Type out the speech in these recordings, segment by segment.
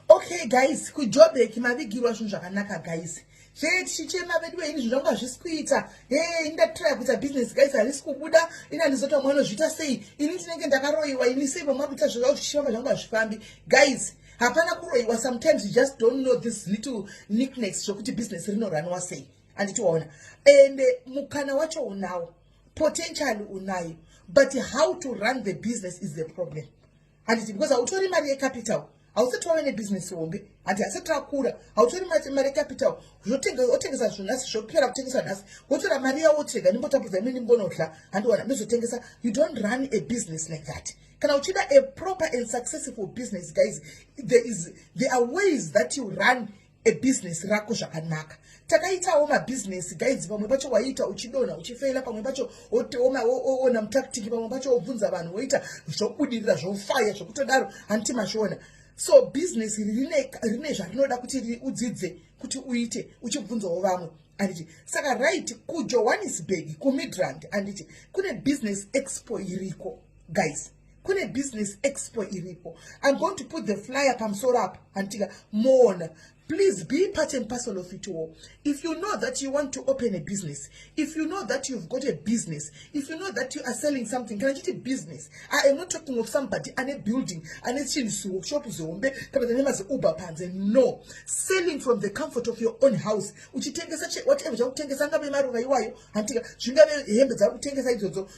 okay guys kujobek mavigirwa zvinhu zvakanaka guys zvee tichichema vedu veini zvinhu zvangu hazvisi kuita hee ini ndatitraya kuita business guys harisi kubuda ini handizoti vamwe vanozviita sei ini ndinenge ndakaroyiwa ini sei vamwe vakuita zvazvaa zvichifamba zvangu hazvifambi guys hapana kuroyiwa sometimes you just don't know this little nicknacks zvokuti business rinoranwa sei handiti waona and eh, mukana wacho unawo potential unayo but how to run the business is the problem handiti because hautori mari yecapital hausati wave nebusiness hombe handi hasati rakura hautori mari yecapital otengesa zvinhu nhasi zvokupera kutengesa nhasi wotora mari yawo wotirega ndimbotapudza imwe ndimbonodya handiwana ndozotengesa you don't run a business like that kana uchida a proper and successful business guys there, is, there are ways that you run ebhizinesi rako zvakanaka takaitawo mabhizinesi gaidzi pamwe pacho waiita uchidonha uchifeila pamwe pacho oona mutaktiki pamwe pacho wobvunza vanhu woita zvobudirira zvofaya zvokutodaro hanti mazviona so bhizinesi iri rine zvarinoda kuti udzidze kuti uite uchibvunzawo vamwe anditi saka right kujohannesburg kumidrand anditi kune bhizinesi expo iriko guys kune business expo iripo i'm going to put the flyer pamusoro apo handitika moona please be part and parcel of it all if you know that you want to open a business if you know that you've got a business if you know that you are selling something kana chiti business i am not talking of somebody ane building ane chinhu siworkshop zihombe kana kuti ane maziuber panze no selling from the comfort of your own house uchitengesa whatever chakutengesa angave maruva iwayo handitika zvingave hembe dzakutengesa idzodzo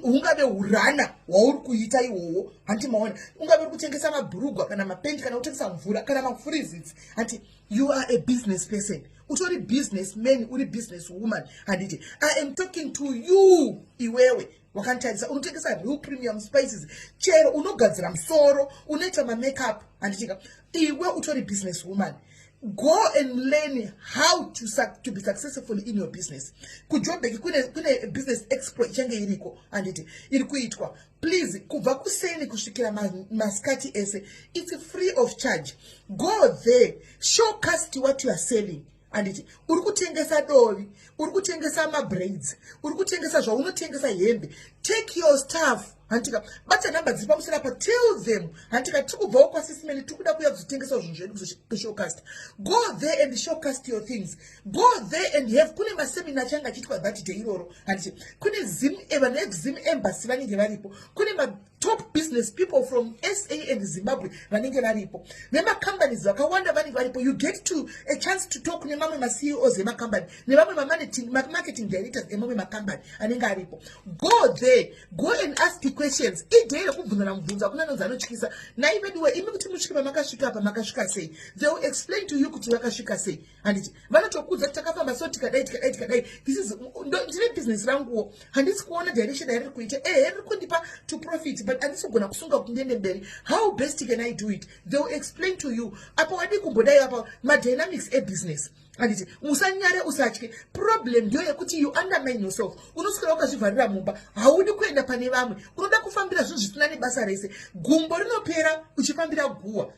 ungave urana wauri kuita iwowo hanti maona ungave uri kutengesa mabhurugwa kana mapendi kana kutengesa mvura kana mafurizitsi hanti you are a business person utori business man uri business woman handiti i am talking to you iwewe wakanditarisa unotengesa real premium spices chero unogadzira musoro unoita mamakeup handitika iwe utori business woman go and learn how to, to be successful in your business kujobeki kune, kune business expo ichange iriko handiti iri kuitwa please kubva kuseni kusvikira masikati ma ese its free of charge go there show cast what you are selling handiti uri kutengesa dovi uri kutengesa mabraids uri kutengesa zvaunotengesa hembe take your staff hantika bata number dziri pamusoro apa tell them hantika tiri kubvawo kwasisimene tiri kuda kuya kuzotengesa zvinhu zvedu kuzoshowcast go there and showcast your things go there and have kune masemina achange achiitwa that day iroro handiti kune zim eh, vanhu vekuzim embassy vanenge varipo kune matop business people from sa and zimbabwe vanenge varipo vemacompanies vakawanda vanenge varipo you get to a chance to talk nemamwe maceos emacompany nevamwe mamarketing directors emamwe macompany anenge aripo go there go and ask the questions idei rekubvunzana mubvunzo akuna anonzi anotyisa nai veduwe imi kuti musvike pamakasvika apa makasvika sei they will explain to you kuti vakasvika sei handiti vanotokudza kuti takafamba so tikadai tikadai tikadai this is ndine business ranguwo handisi kuona direction yariri kuita ehe eh, riri kundipa to profit but handisi kugona kusunga kuti ndiende mberi how best can i do it they will explain to you apa wadii kumbodai apa madynamics ebusiness handiti musanyare usatye problem ndiyo yekuti you undermine yourself unoswera wakazvivharira mumba haudi kuenda pane vamwe unoda kufambira zvinhu zvisina nebasa rese gumbo rinopera uchifambira guhwa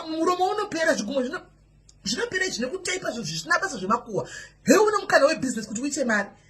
muromo unopera zvigumbo zvino zvinopera zvine kutaipa zvinhu zvisina basa zvemakuhwa heuno mukana webusiness kuti uite mari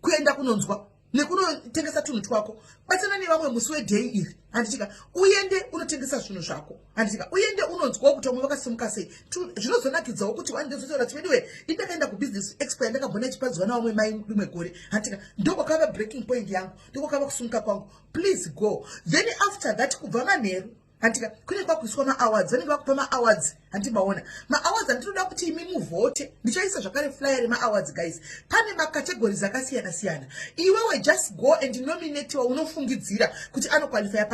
kuenda kunonzwa nekunotengesa tunhu twako batana nevamwe musi wedhei iri handitika uende unotengesa zvinhu zvako handitika uende unonzwawo kuti vamwe vakasimuka sei zvinozonakidzawo kuti wandezotaura tiveduwe indakaenda kubusiness expo yandakambona ichipadziwa navamwe mai rimwe gore handitika ndokwakava breaking point yangu ndokwakava kusumuka kwangu please go then after that kubva manheru hantika kune kwakuiswa maawards vanenge vakupa maawards handi maona maawards handinoda kuti imi muvhote ndichaisa zvakare flyer remaawards guys pane macategories akasiyana siyana iwewe just go and nominatiwa unofungidzira kuti anoqualifya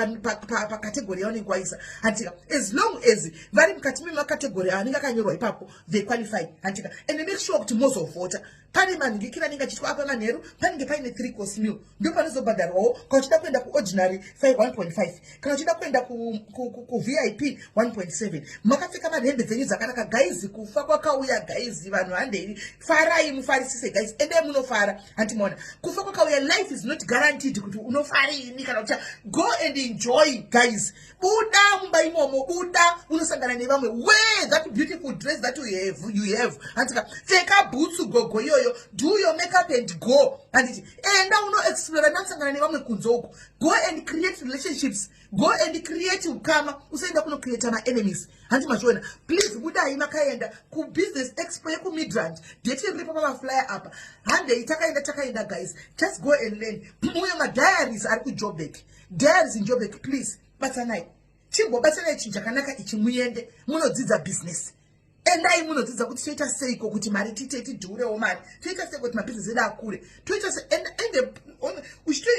pacategory yaunenge waisa hantika as long as vari mukati memacategory aanenge akanyorwa ipapo they qualify hantika and make sure kuti mozovhota pane manhingi kira anenge achiitwa apa manheru panenge paine three course meal ndo panozobhadharwawo kana uchida kuenda kuordinary 1.5 kana uchida kuenda kuvip 1.7 makapfeka manhembe dzenyu dzakanaka gaizi kufa kwakauya gaizi vanhu handei farai mufarisise gaizi ende munofara hanti maona kufa kwakauya life is not guaranteed kuti unofariini kana ucha go and enjoy gaizi buda mumba imomo buda unosangana nevamwe where that beautiful dress that you have, you have. handika pfeka bhutsu gogo iyoyo do your makeup and go handiti enda unoexplora nakusangana nevamwe kunze uko go and create relationships go and create ukama usaenda kunocreata maenemies handi machiona please budai makaenda kubusiness expo yekumidrand deti riripo pamaflyer apa handei takaenda takaenda guys just go and learn uyo madiaries ari kujobek Dads in Joburg please batsanai chimbobatsanai chinhu chakanaka ichi muende munodzidza business endai munodzidza kuti toita seiko kuti mari tiite tidhurewo mari toita seiko kuti mabhizinesi edu akure toita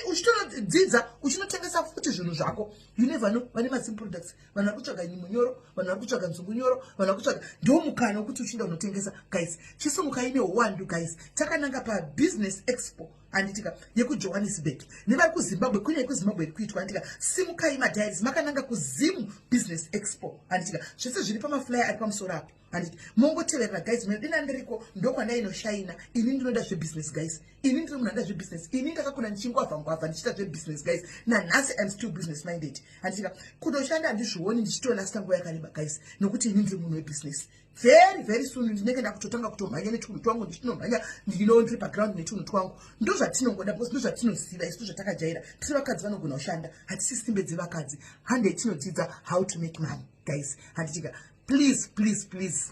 uchitonodzidza uchinotengesa futi zvinhu zvako you never know vane mazim products vanhu vari kutsvaga nyimo nyoro vanhu vari kutsvaga nzungu nyoro vanhu vari kutsvaga ndo mukana wokuti uchinda unotengesa guys chisumukai neuwandu guys takananga pabhizinesi expo anditika yekujohannesburg nevari kuzimbabwe kwine yekuzimbabwe iri kuitwa anditika simukai madiaries makananga kuzimu business expo anditika zvese zviri pamaflyer ari pamusoro apo anditi mongoteverera guys mune dina ndiriko ndokwandainoshayina ini ndinoda zvebusiness guys ini ndiri munhu anda zvebusiness ini ndakakuna ndichingwavha ngwavha ndichiita zvebusiness guys nanhasi im still business minded anditika kutoshanda handizvioni ndichitorasta nguva yakareba guys nokuti ini ndiri munhu webusiness very very soon ndinenge ndakutotanga kutomhanya netunhu twangu ndichinomhanya ndino ndiri paground netunhu twangu ndo zvatinongoda because ndo zvatinoziva isu ndozvatakajaira tiri vakadzi vanogona kushanda hatisi simbe dzevakadzi hande tinodzidza how to make money guys handitika please please please